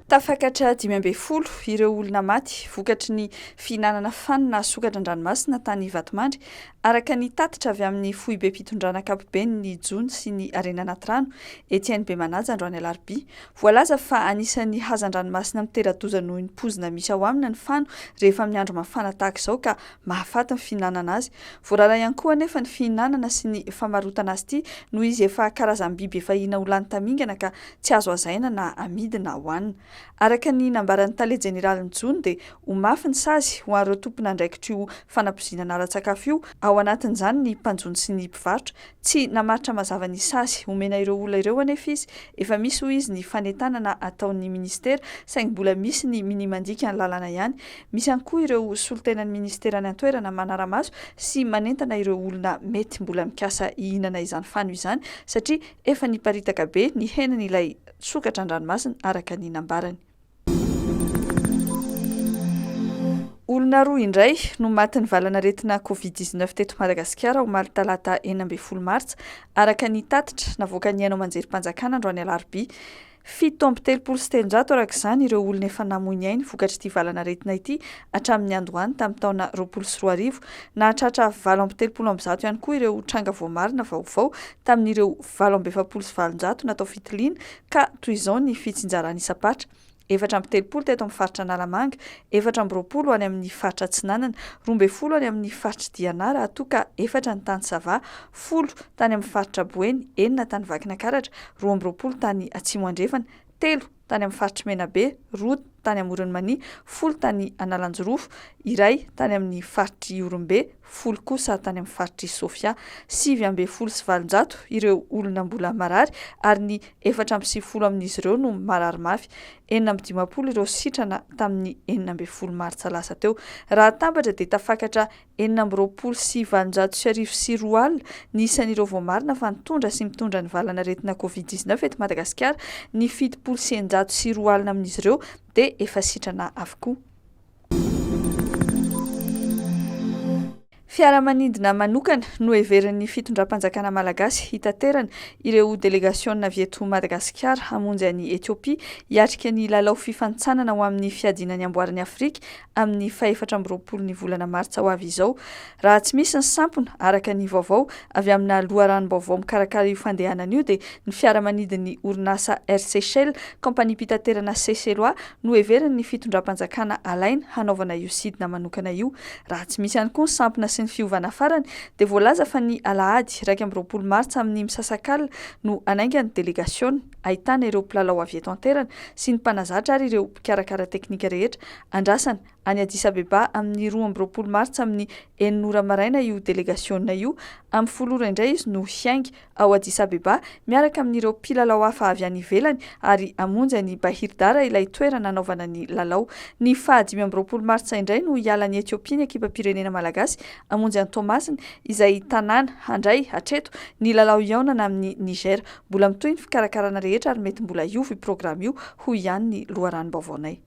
Tafakatra dimy ambin'ny folo ireo olona maty vokatry ny fihinanana fanina sokatra an-dranomasina tany Ivatomandry, araka ny tatitra avy amin'ny foibem-pitondrana ankapoben'ny jono sy ny harena anaty rano, Etienne Bemanaja, androany alarobia. Voalaza fa anisan'ny hazan-dranomasina mitera-doza noho ny poizina misy ao aminy ny fano rehefa amin'ny andro mafana tahaka izao ka mahafaty ny fihinanana azy. Voarara ihany koa anefa ny fihinanana sy ny famarotana azy ity noho izy efa karazam-biby efa hina ho lany tamingana ka tsy azo hazaina na amidy na hohanina. Araka ny nambaran'ny tale jeneralin'ny jono dia ho mafy ny sazy ho an'ireo tompon'andraikitra io fanapozinana ara-tsakafo io, ao anatin'izany ny mpanjono sy ny mpivarotra, Tsy namaritra mazava ny sazy omena ireo olona ireo anefa izy. Efa misy hoy izy ny fanentanana ataon'ny minisitera saingy mbola misy ny minia mandika ny lalàna ihany. Misy ihany koa ireo solontenan'ny minisitera any an-toerana manara-maso sy manentana ireo olona mety mbola mikasa hihinana izany fano izany satria efa niparitaka be ny henan'ilay sokatra an-dranomasina araka ny nambarany. Olona roa indray no matin'ny valan'aretina Covid dix neuf teto Madagasikara omaly talata enina ambin'ny folo martsa, araka ny tatitra navoakan'ny haino aman-jerim-panjakana androany alarobia. Fito amby telopolo sy telonjato araka izany ireo olona efa namoy ny ainy vokatr'ity valan'aretina ity hatramin'ny andohany tamin'ny taona roapolo sy roa arivo. Nahatratra valo amby telopolo amby zato ihany koa ireo tranga voamarina vaovao tamin'ireo valo amby efapolo sy valonjato natao fitiliana Ka toy izao ny fitsinjarana isam-paritra, efatra amby telopolo teto amin'ny faritra Analamanga, efatra amby roapolo any amin'ny faritra Atsinanana, roa ambin'ny folo any amin'ny faritr'i Diana raha toa ka efatra ny tany Sava, folo tany amin'ny faritra Boeny, enina tany Vakinakaratra, roa amby roapolo tany Atsimo Andrefana, telo tany amin'ny faritr'i Menabe, roa tany Amoron'i Mania, folo tany Analanjirofo, iray tany amin'ny faritr'i Ihorombe, folo kosa tany amin'ny faritr'i Sofia, sivy ambin'ny folo sy valonjato ireo olona mbola marary ary ny efatra amby sivifolo amin'izy ireo no marary mafy. Enina amby dimampolo ireo sitrana tamin'ny enina ambin'ny folo martsa lasa teo. Raha atambatra dia tafakatra enina amby roapolo sy valonjato sy arivo sy roa alina ny isan'ireo voamarina fa nitondra sy mitondra ny valanaretina covid dix-neuf eto Madagasikara, ny fitopolo sy eninjato sy roa alina amin'izy ireo dia efa sitrana avokoa. Fiaramanidina manokana no heverin'ny fitondram-panjakana malagasy hitaterana ireo delegasiona avy eto Madagasikara hamonjy an'i Ethiopia hiatrika ny lalao fifanintsanana ho amin'ny fiadiana ny amboaran'i Afrika amin'ny fahefatra amby roapolo ny volana martsa ho avy izao Raha tsy misy ny sampona, araka ny vaovao avy amina loharanom-baovao mikarakara io fandehanana io dia ny fiaramanidin'ny orinasa Air Seychelles, kaompaniam-pitaterana Seychellois, no heverin'ny fitondram-panjakana alaina hanaovana io sidina manokana io. Raha tsy misy ihany koa ny sampona sy ny fiovana farany dia voalaza fa ny alahady iraika amby roapolo martsa amin'ny misasakalina no hanainga ny delegasiona ahitana ireo mpilalao avy eto an-toerana sy ny mpanazatra ary ireo mpikarakara teknika rehetra andrasana any Addis Abeba amin'ny roa amby roapolo martsa amin'ny enina ora maraina io delegasiona io, amin'ny folo ora indray izy no hiainga ao Addis Abeba miaraka amin'ireo mpilalao hafa avy any ivelany ary hamonjy an'i Bahir Dar ilay toerana hanaovana ny lalao. Ny faha dimy amby roapolo martsa indray no hiala any Ethiopia ny ekipam-pirenena malagasy hamonjy an'i Toamasina izay tanàna handray hatreto ny lalao hihaonana amin'i Niger. Mbola mitohy ny fikarakarana rehetra ary mety mbola hiova io programa io, hoy ihany ny loharanom-baovaonay.